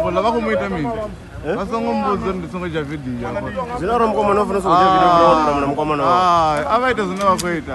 ngola vha khou mu ita mini vha songo mbudza ndi songo tsha vidio zwine ro mukomana u funa songo tsha vidio ndo mna mna mukomana a vha ita zwine vha khou ita